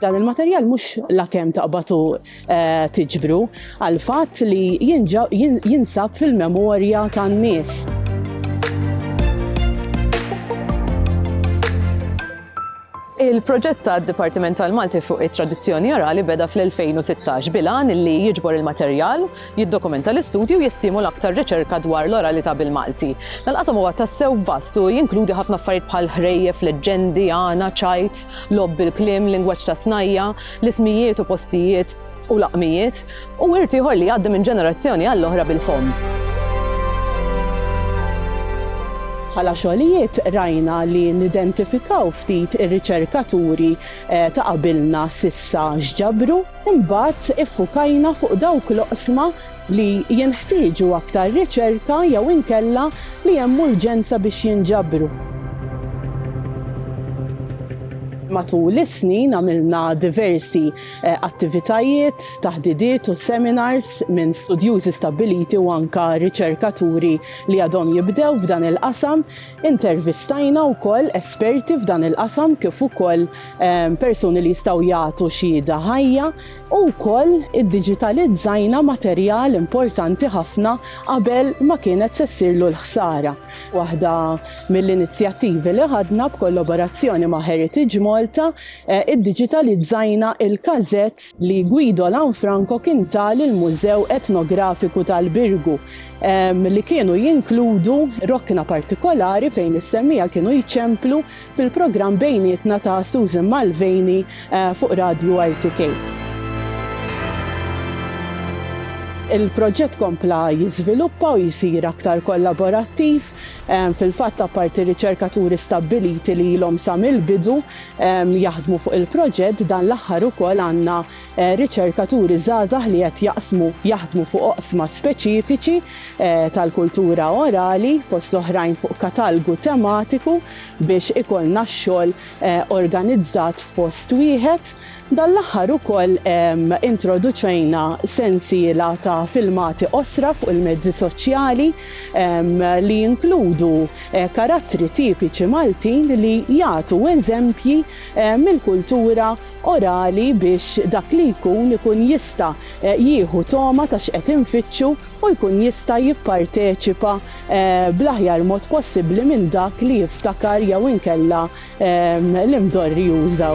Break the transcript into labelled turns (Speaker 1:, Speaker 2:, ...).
Speaker 1: Dan il-materjal mhux lakemm taqbatu eh, tiġbru għal fatt li jinsab fil-memorja tan-nies. Il-proġett ta' Dipartiment tal-Malti fuq it-tradizzjoni orali beda fl-2016 bilan li jiġbor il-materjal jiddokumenta l-istudji u jistimula aktar riċerka dwar l-oralità bil-Malti. Dan il-qasam huwa tassew vast u jinkludi ħafna affarijiet bħal ħrejjef, leġġendi, għana, ċajt, logħob bil-kliem, lingwaġġ ta' snajja, l-ismijiet u postijiet u laqmijiet, u wirt ieħor li jgħaddi minn ġenerazzjoni għall-oħra bil-fomm. Bħala xogħlijiet rajna li nidentifikaw ftit ir-riċerkaturi ta' qabilna s'issa x'ġabru, Imbagħad iffukajna fuq dawk l-oqsma li jenħtieġu aktar riċerka jew inkella li hemm urġenza biex jinġabru. Matul is-snin għamilna diversi attivitajiet, taħdidiet u seminars minn studjużi stabbiliti u anke riċerkaturi li għadhom jibdew f'dan il-qasam. Intervistajna wkoll esperti f'dan il-qasam kif ukoll ehm, persuni li jistgħu jagħtu xhieda ħajja u wkoll iddiġitalizzajna materjal importanti ħafna qabel ma kienet se ssirlu l-ħsara. Waħda mill-inizjattivi li ħadna b'kollaborazzjoni ma' Heritage Malta eh, iddiġitalizzajna il-każett li Guido Lanfranco kien tal il-Mużew Etnografiku tal-Birgu li kienu jinkludu rokna partikolari fejn is-semmija kienu jċemplu fil-programm bejnietna ta' Susan Malveni eh, fuq Radju RTK. Il-proġett kompla jiżviluppa u jisir aktar kollaborattiv fil-fatt apparti riċerkaturi stabbiliti li ilhom sa mill-bidu jaħdmu fuq il-proġett dan l-aħħar ukoll għandna riċerkaturi żgħażagħ li qed jaqsmu jaħdmu fuq oqsma speċifiċi eh, tal-kultura orali fost oħrajn fuq katalgu tematiku biex ikollna x-xogħol eh, organizzat f'post wieħed. Dan l-aħħar ukoll ehm, introduċejna sensiela ta' filmati osra fuq il-mezzi soċjali ehm, li jinkludu eh, karattri tipiċi Maltin li jagħtu eżempji mill-kultura orali biex dak li jkun ikun jista' jieħu togħma ta' x'qed infittxu u jkun jista' jipparteċipa bl-aħjar mod possibbli minn dak li jiftakar jew inkella li mdorri juża.